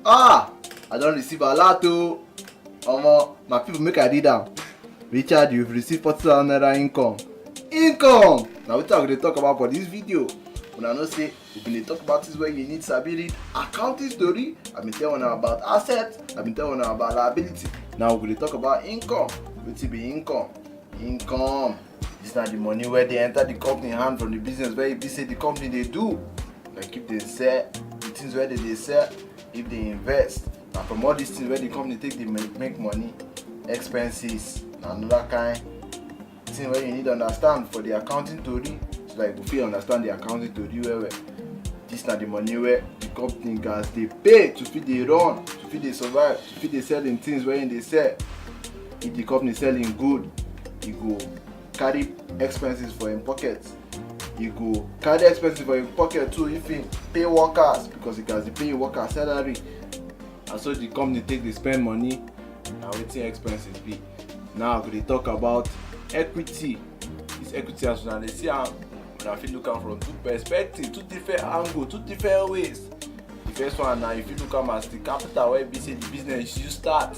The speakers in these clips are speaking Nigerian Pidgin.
ah i don receive alert o omo my people make i read am richard you receive forty thousand naira income income na wetin i go dey talk about for dis video una know say we bin dey talk about things wey you need sabi read accounting story i bin tell una about assets i bin tell una about liability now we go dey talk about income wetin be income income This na the money wey dey enter the company hand from the business wey e be say the company dey do. Like if they sell the things wey they dey sell, if they invest, na from all these things wey the company take dey make, make money. Expenses na another kind thing wey you need understand for the accounting tori so that you go fit understand the accounting tori well well. This na the money wey the company gats dey pay to fit dey run, to fit dey survive, to fit dey sell im things wey im dey sell. if the company sell him good he go carry expenses for him pocket he go carry expenses for him pocket too if he pay workers because he gats dey pay him workers salary na so the company take dey spend money na wetin expenses be now we go dey talk about equity this equity as una dey see am una fit look am from two perspective two different angle two different ways the first one na you fit look am as the capital wey be say the business you start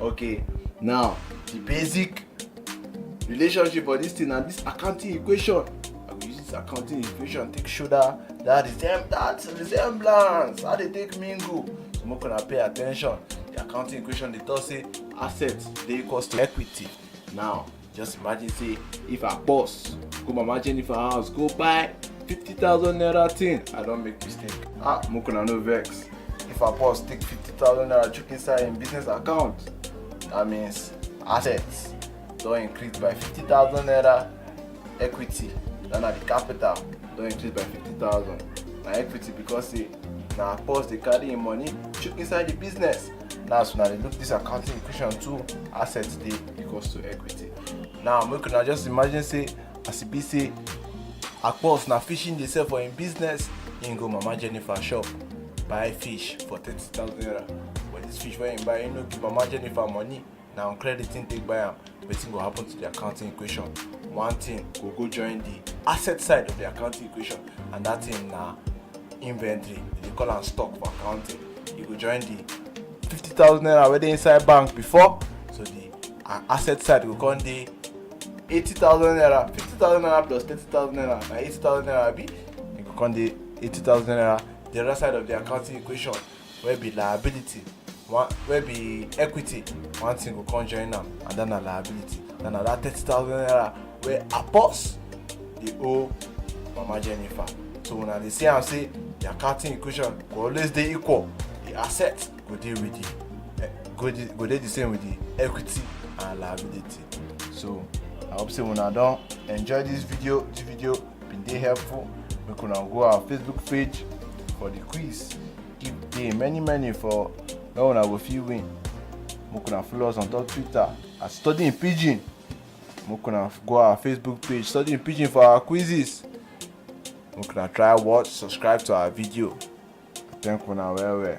Okay, now the basic relationship for this thing na this accounting equation. I go use this accounting equation take show that that resem that resemblance how they take mingle. So make una pay attention. The accounting equation dey talk say assets dey equals to equity. Now Just imagine say if I boss go mama Jennifer house go buy 50,000 naira thing, I don't make mistake. Ah, Mukuna no vex. If I boss take 50,000 naira chook inside in business account, that means assets don't increase by 50,000 naira equity, then the capital don't increase by 50,000. My equity because say na pause dey carry im money chook inside the business now so now they look this accounting equation too asset dey equals to equity now make una just imagine say as e be say akpos na fishing dey sell for im business im go mama jennifer shop buy fish for thirty thousand naira but this fish wey im buy im no give mama jennifer money na on credit thing take buy am wetin go happen to the accounting equation one thing go go join the asset side of the accounting equation and that thing na inventory they call am stock for accounting e go join the fifty thousand naira wey dey inside bank before so the uh, asset side go come dey eighty thousand naira fifty thousand naira plus thirty thousand naira na eighty thousand naira abi e go come dey eighty thousand naira the other side of the accounting equation wey be liability one wey be equity one thing go come join am and then na liability then na that thirty thousand naira wey apos dey owe mama jennifer so una dey see am say the accounting equation go always dey equal the asset go dey with the eh, go dey go dey the same with the equity and liability so i hope say una don enjoy this video this video bin dey helpful make una go our facebook page for the quiz if dey many many for where una go fit win make una follow us on top twitter at studying pidgin make una go our facebook page studying pidgin for our quizzes make una try watch subscribe to our video thank una well well.